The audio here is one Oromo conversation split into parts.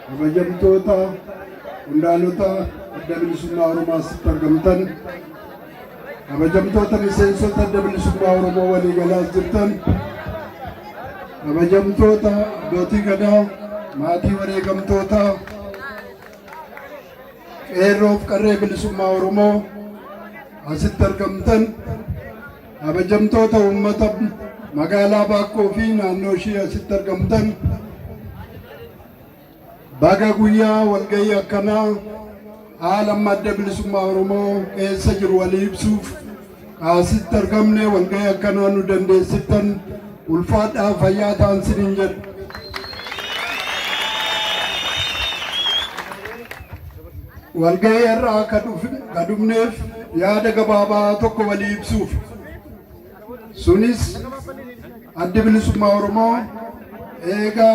Kabajamtoota qondaalota adda bilisummaa Oromoo asitti argamtan, kabajamtoota miseensota adda bilisummaa Oromoo waliigalaas jirtan, kabajamtoota abbootii gadaa, maatii wareegamtoota, qeerroof qarree bilisummaa Oromoo asitti argamtan, Kabajamtoota uummata magaalaa Baakkoo fi naannoo ishii asitti argamtan baga guyyaa walgahii akkanaa haala amma adda bilisummaa Oromoo keessa jiru walii ibsuuf kaasitti argamne walgahii akkanaa nu dandeessittan ulfaadhaa fayyaa ta'an sinin jedhu. Walgahii har'aa ka dhufneef yaada gabaabaa tokko walii ibsuufi. Sunis Addi Bilisummaa Oromoo eega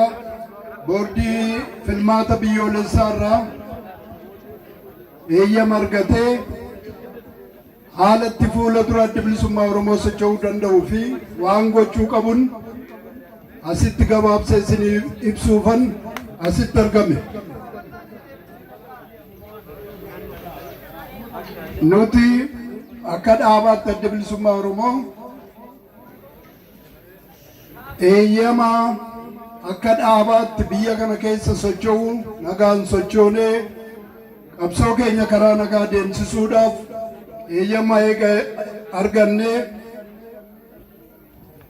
boordii filmaata biyyoolessaa irraa eeyyama argatee Haala itti fuula dura Addi Bilisummaa Oromoo socho'uu danda'uu fi waan gochuu qabun asitti gabaabsee isiniif ibsuufan asitti argame. Nuti akka dhaabaatti Addi Bilisummaa Oromoo Eeyyama akka dhaabaatti biyya kana keessa socho'u nagaan sochoonee qabsoo keenya karaa nagaa deemsisuudhaaf eeyyama eega argannee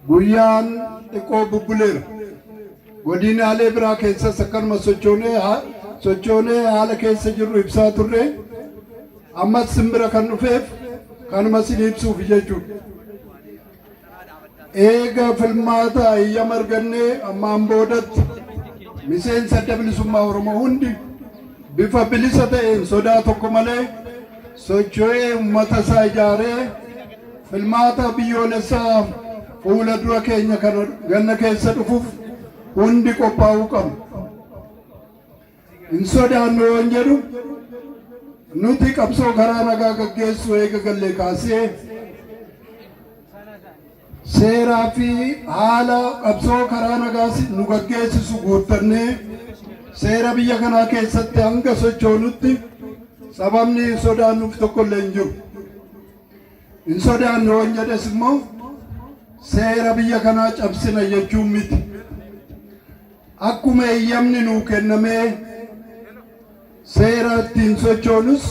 guyyaan xiqqoo bubbuleera. Godinaalee biraa keessas akkanuma sochoonee haa- sochoonee haala keessa jirru ibsaa turre. Ammas simbira kan dhufeef kanuma sin ibsuuf jechuudha. Eega filmaata eeyyama argannee ammaan boodatti miseensa Adda Bilisummaa Oromoo hundi bifa bilisa ta'een sodaa tokko malee socho'ee uummata isaa ijaaree filmaata biyyoolessaa fuula dura keenya kana ganna keessa dhufuuf hundi qophaa'uu qabna. Hin sodaannu yoon jedhu nuti qabsoo karaa nagaa gaggeessuu eega gallee kaasee seeraa fi haala qabsoo karaa nagaa nu gaggeessisu guuttannee seera biyya kanaa keessatti hanga sochoonutti sababni hin sodaannuuf tokkollee hin jiru. Hin sodaannu yoon jedhes immoo seera biyya kanaa cabsina jechuun miti. Akkuma eeyyamni nuu kennamee seera ittiin sochoonus,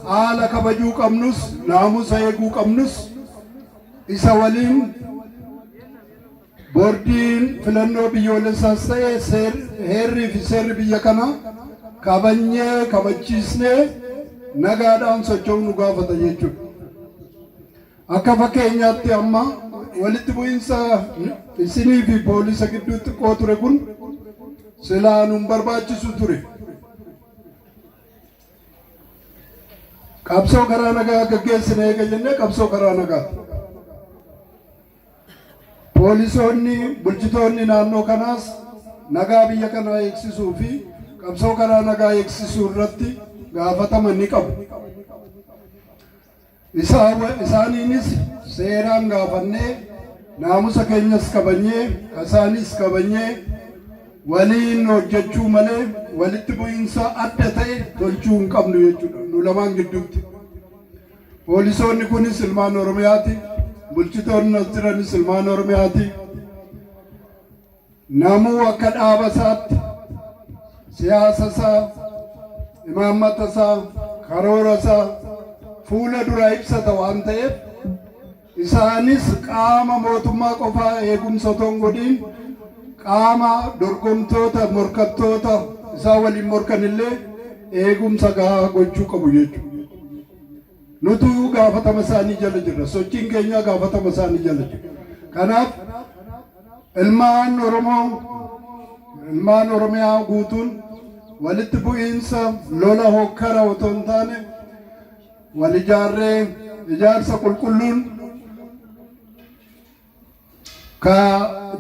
haala kabajuu qabnus, naamusa eeguu qabnus isa waliin Boordiin Filannoo Biyyoolessaas ta'e seer- heerrii fi seerri biyya kanaa kabajnee kabachiisnee nagaadhaan socho'uu nu gaafata jechuudha. Akka fakkeenyaatti amma walitti bu'insa isinii fi poolisa gidduu xiqqoo ture kun silaa nun barbaachisu ture. Qabsoo karaa nagaa gaggeessine eega jennee qabsoo karaa nagaati. Poolisoonni bulchitoonni naannoo kanaas nagaa biyya kanaa eegsisuu fi qabsoo karaa nagaa eegsisuu irratti gaafatama ni qabu. Isaaniinis seeraan gaafannee naamusa keenyas kabanyee kasaaniis kabanyee waliin hojjechuu malee walitti bu'iinsa adda ta'e tolchuu hin qabnu jechuudha nu lamaan gidduutti. Poolisoonni kunis ilmaan Oromiyaati. Bulchitoonni as jiranis ilmaan Oromiyaati. Namuu akka dhaaba isaatti siyaasa isaa, imaammata isaa, karoora isaa fuula duraa ibsata waan ta'eef isaanis qaama mootummaa qofaa eegumsa otoo hin godhin qaama dorgomtoota morkattoota isaa waliin morkanillee eegumsa gahaa gochuu qabu jechuudha. Nutuyuu gaafatama isaanii jala jirra. Sochiin keenyaa gaafatama isaanii jala jira. Kanaaf ilmaan Oromoo ilmaan Oromiyaa guutuun walitti bu'iinsa lola hokkara otoo hin taane wal ijaarree ijaarsa qulqulluun ka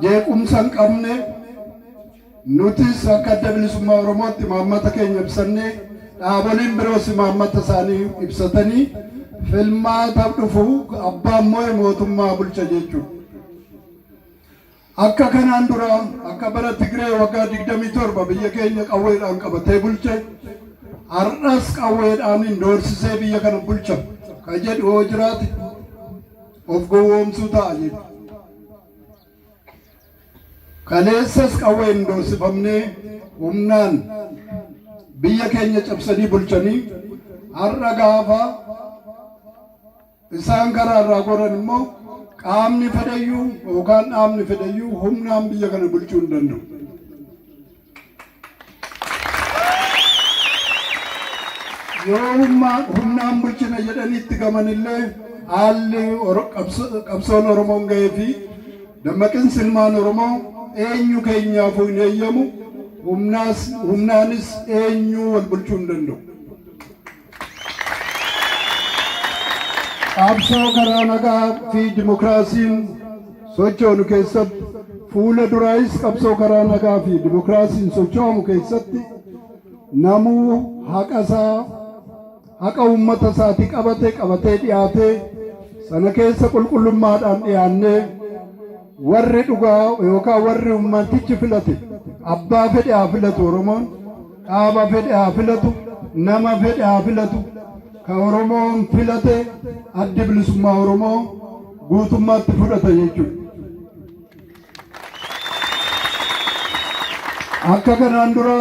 jeequmsa hin qabne nutis akka adda bilisummaa Oromootti imaammata keenya ibsannee dhaaboliin biroos imaammata isaanii ibsatanii filmaata dhufu abbaan moo'e mootummaa bulcha jechuudha. Akka kanaan dura akka bara Tigree waggaa 27 biyya keenya qawweedhaan qabatee bulche har'as qawweedhaan hin doorsisee biyya kana bulcha ka jedhu yoo jiraate Of gowwoomsuu ta'a jechuudha. Kaleessas qawween doorsifamnee humnaan biyya keenya cabsanii bulchanii har'a gaafa isaan karaa irraa goran immoo qaamni fedhayyuu yookaan dhaabni fedhayyuu humnaan biyya kana bulchuu hin danda'u. Yoo humna humnaan bulchina jedhanii itti gamanillee haalli Oro- qabso- qabsoon Oromoon ga'ee fi dammaqinsi ilmaan Oromoo eenyu keenyaafuu hin eeyyamu humnaas humnaanis eenyuu wal bulchuu hin danda'u. Qabsoo karaa nagaa fi dimokiraasiin sochoonu keessatti fuula duraayis qabsoo karaa nagaa fi dimokiraasiin socho'amu keessatti namuu haqa isaa haqa uummata isaati qabate qabatee dhiyaatee sana keessa qulqullummaadhaan dhiyaannee Warri dhugaa yookaan warri uummantichi filate abbaa fedhe haa filatu Oromoon dhaaba fedhe haa filatu nama fedhe haa filatu ka Oromoon filate addi bilisummaa Oromoo guutummaatti fudhata jechuudha. Akka kanaan dura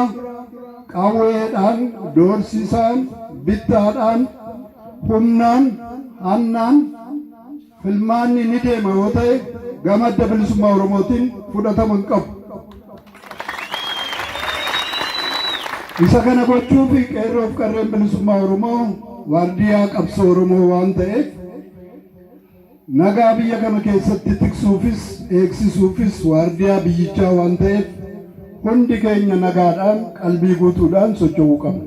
qawweedhaan, doorsisaan, bittaadhaan, humnaan, hannaan Filmaanni ni deema yoo ta'e gama Adda Bilisummaa Oromootiin fudhatama hin qabu. Isa kana gochuuf qeerroo fi qarreen bilisummaa Oromoo waardiyaa qabsoo Oromoo waan ta'eef nagaa biyya kana keessatti tiksuufis eegsisuufis waardiyaa biyyichaa waan ta'eef hundi keenya nagaadhaan qalbii guutuudhaan socho'uu qabna.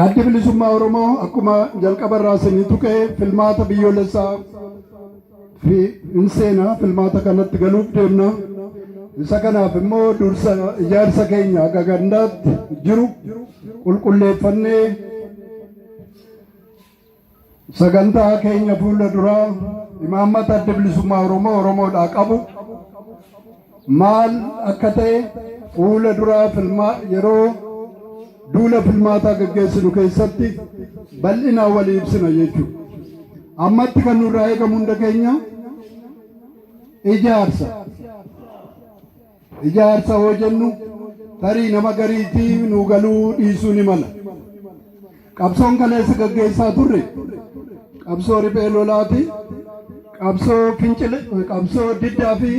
Addi Bilisummaa Oromoo akkuma jalqaba irraa isinii tuqe filmaata biyyoolessaa fi hin seena filmaata kanatti galuuf deemna. Isa kanaaf immoo dursa ijaarsa keenya akka gandaatti jiru qulqulleeffannee Sagantaa keenya fuula duraa imaammata adda bilisummaa Oromoo Oromoodhaa qabu maal akka ta'e fuula duraa filmaa yeroo duula filmaataa gaggeessinu keessatti bal'inaa walii ibsina jechuudha. Ammatti kan nurraa eegamu hunda keenya ijaarsa. Ijaarsa hoo jennu tarii nama gariitti nuu galuu dhiisuu ni mala. Qabsoon kaleessa gaggeessaa turre qabsoo riphee lolaati, qabsoo fincile, qabsoo diddaa fi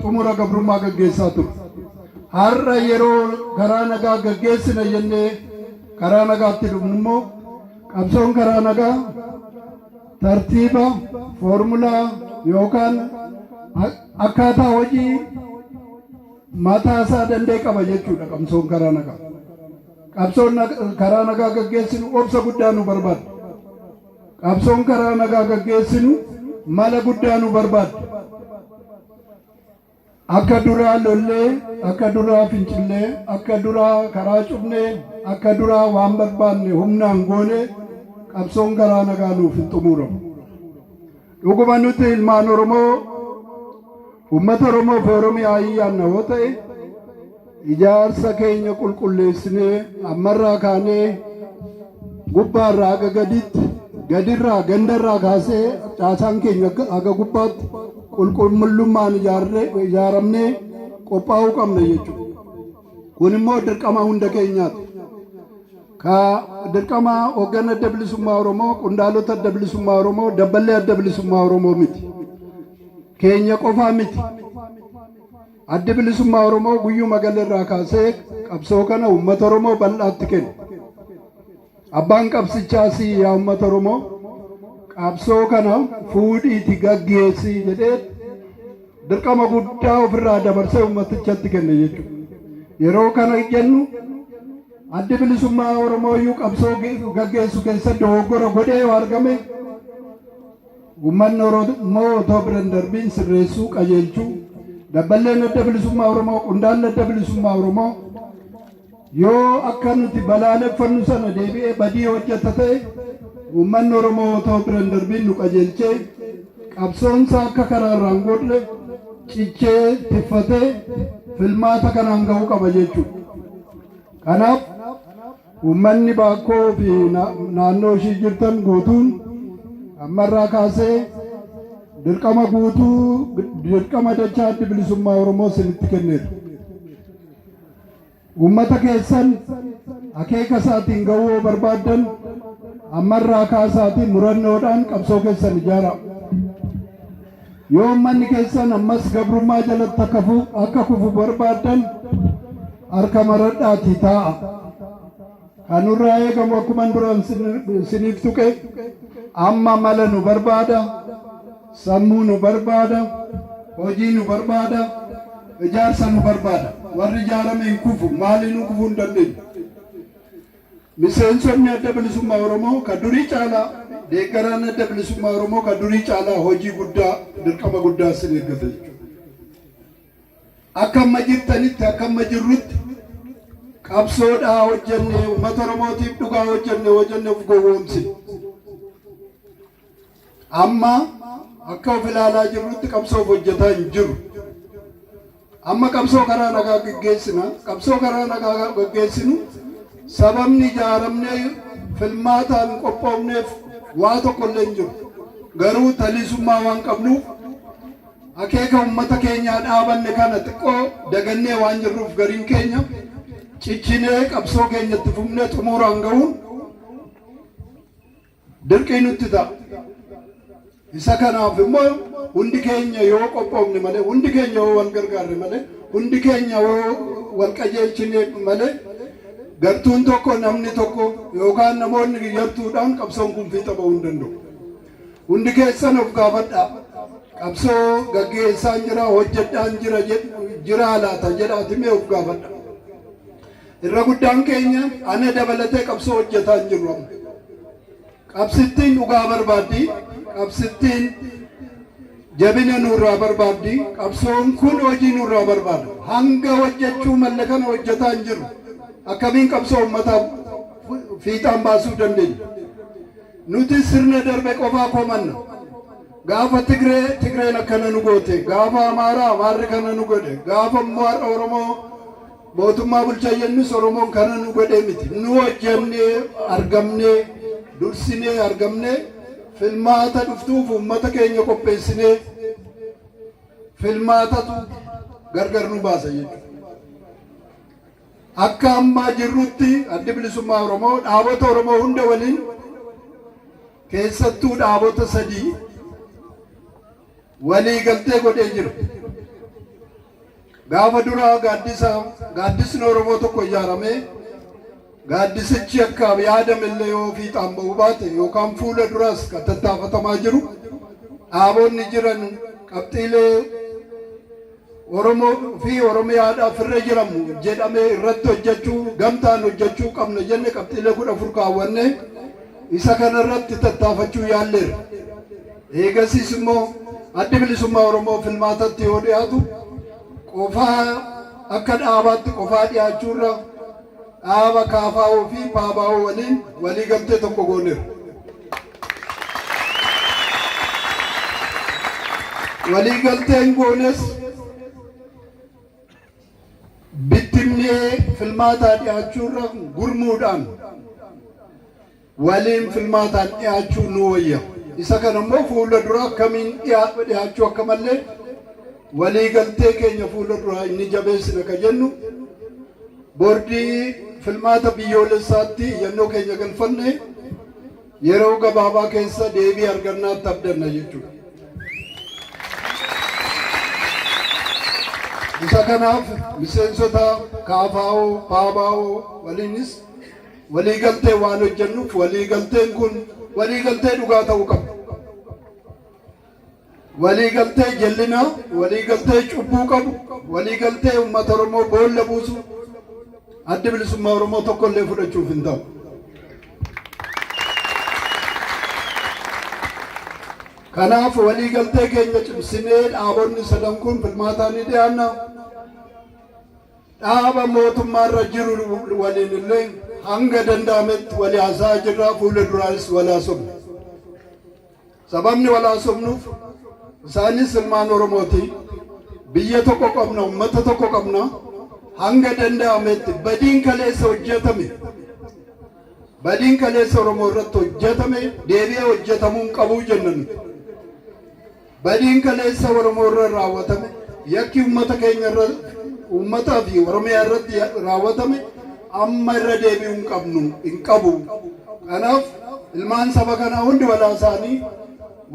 xumura gabrummaa gaggeessaa turre. Har'a yeroo karaa nagaa gaggeessina jennee karaa nagaatti dhufnu immoo qabsoon karaa nagaa tartiiba, formula yookaan a- akkaataa hojii mataa isaa danda'e qaba jechuudha qabsoon karaa nagaa. Qabsoon nag- karaa nagaa gaggeessinu obsa guddaa nu barbaadda. Qabsoon karaa nagaa gaggeessinu mala guddaa nu barbaadda. Akka duraa lollee, akka duraa fincillee, akka duraa karaa cufnee, akka duraa waan barbaanne humnaan goone qabsoon garaa nagaa nuuf hin xumuuramu. Dhuguma nuti ilmaan Oromoo uummata Oromoo fi Oromiyaa iyyaanna yoo ta'e Ijaarsa keenya qulqulleessinee ammarraa kaanee gubbaarraa haga gaditti gadirraa gandarraa kaasee caasaan keenya haga gubbaatti qulqullummaan ijaaramnee qophaa'uu qabna jechuudha. Kun immoo dirqama hunda keenyaati. Ka dirqama hoggana adda bilisummaa Oromoo, qondaalota adda bilisummaa Oromoo, dabballee adda bilisummaa Oromoo miti. Keenya qofaa miti. Addi Bilisummaa Oromoo guyyuma gale irraa kaasee qabsoo kana uummata Oromoo bal'aatti kenne. Abbaan qabsichaa si yaa uummata Oromoo qabsoo kana fuudhiiti gaggeessi jedhee dirqama guddaa ofirraa dabarsee uummatichatti kenne jechuudha. Yeroo kana jennu addi bilisummaa Oromoo iyyuu qabsoo gaggeessu keessatti dogoggora godhee yoo argame Uummatni Oromoo otoo bira hin darbiin sirreessuu, qajeelchuu, Dabballeen Adda Bilisummaa Oromoo, Qondaalli Adda Bilisummaa Oromoo yoo akka nuti balaaleffannu sana deebi'ee badii hojjeta ta'e uummanni Oromoo otoo bira hin darbiin nu qajeelchee qabsoonsaa akka karaa irraa hin gorre cichee tiffatee filmaata kanaan ga'uu qaba jechuudha. Kanaaf Uummanni Baakkoo fi naannoo ishii jirtan guutuun ammarraa kaasee dirqama guutuu dirqama dachaa Addi Bilisummaa Oromoo isinitti kenneera. Uummata keessan akeeka isaatiin ga'uu yoo barbaaddan ammarraa kaasaatii murannoodhaan qabsoo keessan ijaaraa. Yoo ummanni keessan ammas gabrummaa jalatti akka fu- akka kufu barbaaddan harka maradhaatii taa'a. Kan nurraa eegamu akkuman duraan sin- isiniif tuqe amma mala nu barbaada, sammuu nu barbaada, hojii nu barbaada, ijaarsa nu barbaada. Warri ijaarame hin kufu, maaliinuu kufuu hin dandeenyu. Miseensonni Adda Bilisummaa Oromoo ka durii caalaa, deeggaraan Adda Bilisummaa Oromoo ka durii caalaa hojii guddaa, dirqama guddaa isin eeggata jechuudha. Akka amma jirtanitti, akka amma jirrutti qabsoo dhaa hojjannee, ummata Oromootiif dhugaa hojjanne yoo jenne uf gowwoomsina. Amma akka of ilaalaa jirrutti qabsoof hojjetaa hin jiru. Amma qabsoo karaa nagaa gaggeessina. Qabsoo karaa nagaa gaafa gaggeessinu sababni ijaaramnee filmaataan qophoofneef waa tokko illee hin jiru. Garuu taliisummaa waan qabnuuf akeeka uummata keenyaa dhaabanne kana xiqqoo dagannee waan jirruuf gariin keenya cichinee qabsoo keenyatti fufnee xumuuraan ga'uun dirqii nutti ta'a. Isa kanaaf immoo hundi keenya yoo qophoofne malee, hundi keenya yoo wal gargaarre malee, hundi keenya yoo wal qajeelchine malee gartuun tokko namni tokko yookaan namoonni yartuudhaan qabsoon kun fiixa ba'uu hin danda'u. Hundi keessan of gaafadhaa. Qabsoo gaggeessaan jira, hojjedhaan jira, jiraa laata jedhaati mee of gaafadhaa. Irra guddaan keenya ana dabalatee qabsoo hojjetaa hin jirru amma. Qabsittiin dhugaa barbaaddi, qabsittiin jabina nurraa barbaaddi, qabsoon kun hojii nurraa barbaada. Hanga hojjechuu malle kana hojjetaa hin jirru. Akkamiin qabsoo uummataa fiixaan baasuu dandeenya? Nuti sirna darbe qofaa komanna. Gaafa Tigree Tigreen akkana nu goote, gaafa Amaaraa Amaarri kana nu godhe, gaafa immoo har'a Oromoo Mootummaa bulchaa jennus Oromoon kana nu godhee miti. Nu hojjannee argamnee, dursinee argamnee, filmaata dhuftuuf uummata keenya qopheessinee filmaatatu gargar nu baasa jechuudha. Akka ammaa jirrutti addi bilisummaa Oromoo dhaabota Oromoo hunda waliin keessattuu dhaabota sadii waliigaltee godhee jira. Gaafa duraa gaaddisa gaaddisni Oromoo tokko ijaaramee gaaddisichi akkaaf yaadamellee yoo fiixaan ba'uu baate yookaan fuula duraas kan tattaafatamaa jiru dhaabonni jiran qabxiilee Oromoo fi Oromiyaadhaaf irra jiramu jedhame irratti hojjechuu, gamtaan hojjechuu qabna jenne qabxiilee 14 kaawwanne. Isa kana irratti tattaafachuu yaalleerra. Eegasiis immoo Addi Bilisummaa Oromoo filmaatatti yoo dhiyaatu qofaa akka dhaabaatti qofaa dhiyaachuurra dhaaba kaafaa'oo fi paabaa'oo waliin waliigaltee tokko gooneerra. Waliigalteen goones bittimnee filmaataa dhiyaachuurra gurmuudhaan waliin filmaataan dhiyaachuu nu wayya. Isa kana immoo fuula dura akkamiin dhiyaachuu akka mallee waliigaltee keenya fuula duraa inni jabeessina ka jennu boordii filmaata biyyoolessaatti iyyannoo keenya galfanne. Yeroo gabaabaa keessa deebii argannaatti abdanna jechuudha. Isa kanaaf miseensota KFO, PABO waliinis waliigalteen waan hojjennuuf waliigalteen kun waliigaltee dhugaa ta'uu qaba. Waliigaltee jallinaa, waliigaltee cubbuu qabu, waliigaltee uummata Oromoo boolla buusu Addi Bilisummaa Oromoo tokko illee fudhachuuf hin ta'u. Kanaaf waliigaltee keenya cimsinee dhaabonni sadan kun filmaataa ni dhiyaanna. Dhaaba mootummaarra jiru waliin illee hanga danda'ametti walii haasa'aa jirra fuula duraas walaasofna. Sababni wal haasofnuuf isaanis ilmaan Oromooti. Biyya tokko qabna, ummata tokko qabna. Hanga danda'ametti badiin kaleessa hojjetame, badiin kaleessa Oromoo irratti hojjetame deebi'ee hojjetamuu hin qabu jenna nuti. Badiin kaleessa Oromoo irra raawwatame, yakki ummata keenya irra, ummataa fi Oromiyaa irratti raawwatame amma irra deebi'uu hin qabnu hin qabu. Kanaaf ilmaan saba kanaa hundi walaa isaanii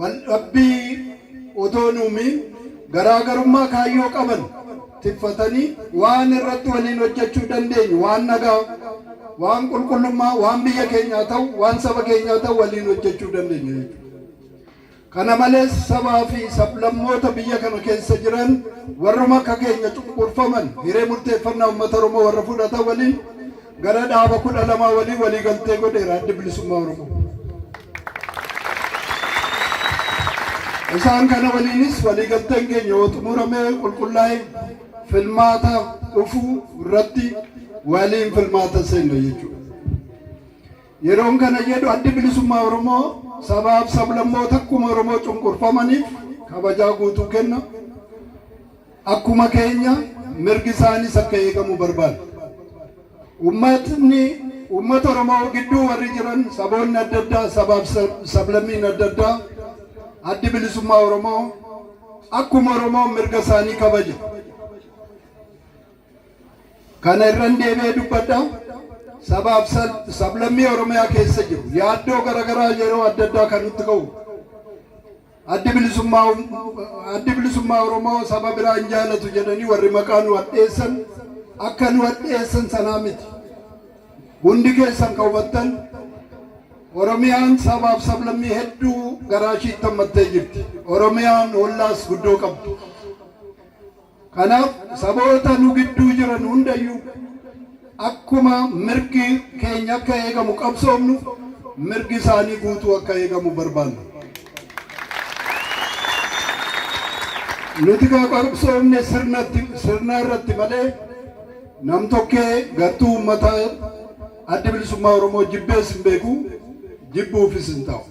wal dhabbii otoo hin uumiin garaagarummaa kaayyoo qaban tiffatanii waan irratti waliin hojjechuu dandeenyu waan nagaa, waan qulqullummaa, waan biyya keenyaa ta'u, waan saba keenyaa ta'u waliin hojjechuu dandeenya jechuudha. Kana malees sabaa fi sablammoota biyya kana keessa jiran warruma akka keenya cunqurfaman hiree murteeffannaa uummata Oromoo warra fudhatan waliin gara dhaaba 12 waliin waliigaltee godheera Addi Bilisummaa Oromoo. Isaan kana waliinis waliigalteen keenya yoo xumurame qulqullaa'e filmaata dhufu irratti waliin filmaata seenna jechuudha. Yeroon kana jedhu Addi Bilisummaa Oromoo sabaaf sablammoota akkuma Oromoo cunqurfamaniif kabajaa guutuu kenna. Akkuma keenya mirgi isaaniis akka eegamu barbaada. Ummatni uummata Oromoo gidduu warri jiran saboonni adda addaa sabaaf sablammiin adda addaa Addi Bilisummaa Oromoo akkuma Oromoo mirga isaanii kabaja. Kana irran deebi'ee dubbadha. Sabaaf sal- sablammii Oromiyaa keessa jiru yaaddoo garaagaraa yeroo adda addaa kan nutti ka'u. Addi bilisummaa um- addi bilisummaa Oromoo saba biraa hin jaalatu jedhanii warri maqaa nu hadheessan akka nu hadheessan sanaa miti. Hundi keessan kan hubattan Oromiyaan sabaaf sablammii hedduu garaa ishiitti hammattee jirti. Oromiyaan hollaas guddoo qabdi. Kanaaf saboota nu gidduu jiran hundayyuu akkuma mirgi keenya akka eegamu qabsoofnu mirgi isaanii guutuu akka eegamu barbaanna. Nuti kaa qabsoofne sirnatti sirna irratti malee namtokkee gartuu uummataa addi bilisummaa Oromoo jibbees hin beeku jibbuufis hin ta'u.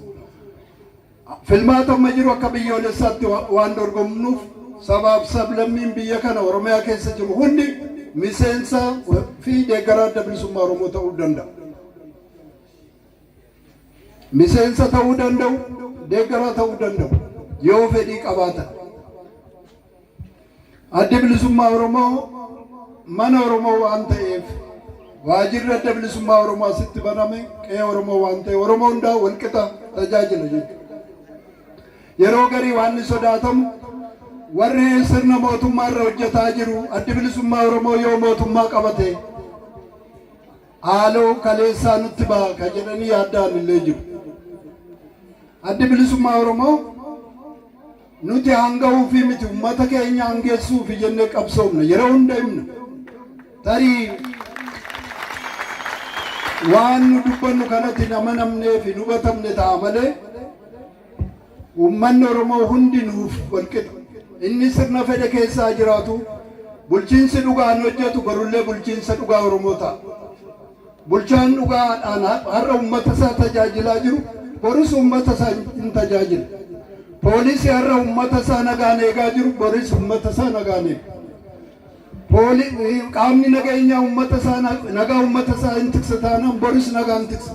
Filmaata amma jiru akka biyyoolessaatti waan dorgomnuuf sabaaf sablammiin biyya kana Oromiyaa keessa jiru hundi miseensa fi deeggaraa Adda Bilisummaa Oromoo ta'uu danda'a. Miseensa ta'uu danda'u, deeggaraa ta'uu danda'u yoo fedhii qabaatan. Addi Bilisummaa Oromoo mana Oromoo waan ta'eef waajirri Adda Bilisummaa Oromoo asitti baname qe'ee Oromoo waan ta'e Oromoo hundaa walqixa tajaajila jechuudha. Yeroo garii waan ni sodaatamu warri sirna mootummaa irra hojjetaa jiru Addi Bilisummaa Oromoo yoo mootummaa qabate haaloo kaleessaa nutti ba'a ka jedhanii yaadda'an illee jiru. Addi Bilisummaa Oromoo Nuti haanga'uufi miti ummata keenya hangeessuufi jennee qabsoofna. Yeroo hunda himna. Tarii waan nu dubbannu kanatti hin amanamneef hin hubatamne ta'a malee uummanni Oromoo hundi nuuf walqixa. Inni sirna fedhe keessaa jiraatu bulchiinsi dhugaan hojjetu borullee bulchiinsa dhugaa Oromoo ta'a. Bulchaan dhugaa adhaan har'a uummata isaa tajaajilaa jiru boris uummata isaa hin tajaajila. Poolisi har'a uummata isaa nagaan eegaa jiru boris uummata isaa nagaan eega. Qaamni nageenyaa uummata isaa nagaa uummata isaa hin tiksa taanaan boris nagaan tiksa.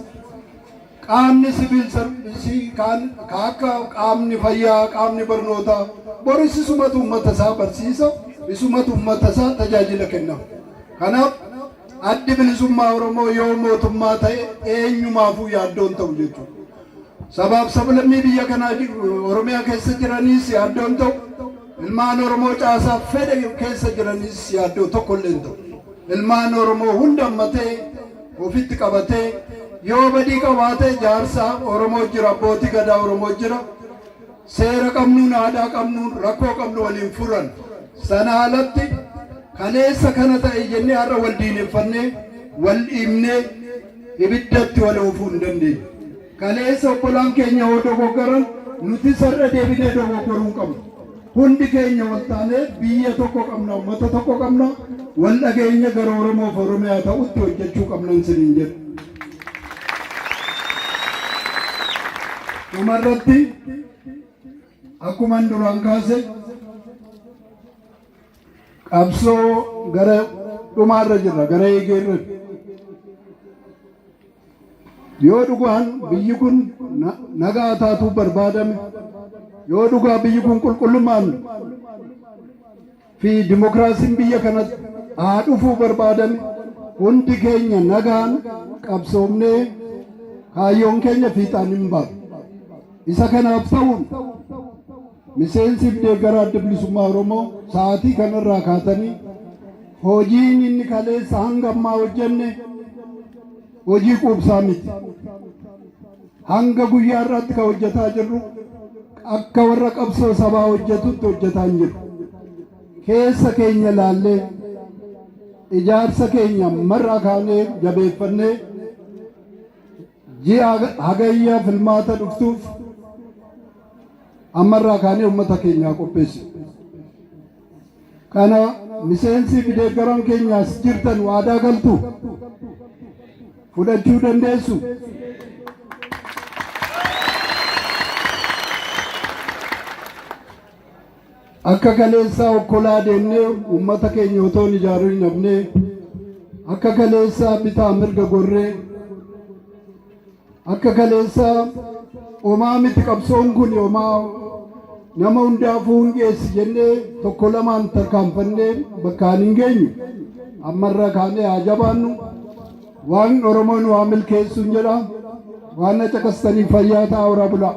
Qaamni siviil sarvisii kaan akka qaamni fayyaa qaamni barnootaa boris isumatu uummata isaa barsiisa isumatu uummata isaa tajaajila kenna. Kanaaf Addi Bilisummaa Oromoo yoo mootummaa ta'e eenyumaafuu yaaddoo hin ta'u jechuudha. Sabaaf sablammii biyya kanaa Oromiyaa keessa jiraniis yaaddoo hin ta'u. Ilmaan Oromoo caasaa fedhe keessa jiraniis yaaddoo tokko illee hin ta'u. Ilmaan Oromoo hunda ammatee ofitti qabatee yoo badii qabaate jaarsa Oromoo jira, abbootii gadaa Oromoo jira. Seera qabnuun aadaa qabnuun rakkoo qabnu waliin furan. Sana alatti kaleessa kana ta'e jennee har'a wal diineffannee wal dhiibnee ibiddatti wal oofuu hin dandeenye. Kaleessa obbolaan keenya yoo dogoggoran nuti sarra deebinee dogoggoruu hin qabnu. Hundi keenya wal taanee biyya tokko qabna, uummata tokko qabna, wal dhageenya gara Oromoof Oromiyaa ta'utti hojjechuu qabnan siniin jedhu. Dhuma irratti akkuman duraan kaase qabsoo gara dhumaa irra jirra gara eegee irra yoo dhugaan biyyi kun na- nagaa taatuu barbaadame yoo dhugaa biyyi kun qulqullummaan fi dimokiraasiin biyya kanatti haa dhufuu barbaadan hundi keenya nagaan qabsoomnee kaayyoon keenya fiixaan hin baanu. Isa kanaaf ta'uun miseensiif deeggaraa adda bilisummaa Oromoo sa'aatii kanarraa kaatanii hojiin inni kaleessa hanga ammaa hojjenne Hojii quubsaa miti. Hanga guyyaa har'aatti kan hojjetaa jirru akka warra qabsoo sabaa hojjetutti hojjetaa hin jiru. Keessa keenya laallee ijaarsa keenya marraa kaanee jabeeffannee ji'a hagayya filmaata dhuftuuf ammarraa kaanee uummata keenyaa qopheessu. Kana miseensii fi deeggaran keenya as jirtan waadaa galtu fudhachuu dandeessu. Akka kaleessaa okkolaa deemnee uummata keenya otoo hin ijaarin dhabnee akka kaleessaa bitaa mirga gorree Akka kaleessaa omaa miti qabsoon kun omaa nama hundaafuu hin geessi jennee tokko lamaan tarkaanfannee bakkaan hin geenyu. Ammarra kaanee haa jabaannu. Waan Oromoo nu haa milkeessuun jedha. Waan na caqastaniif fayyaa ta'aa horaa bulaa.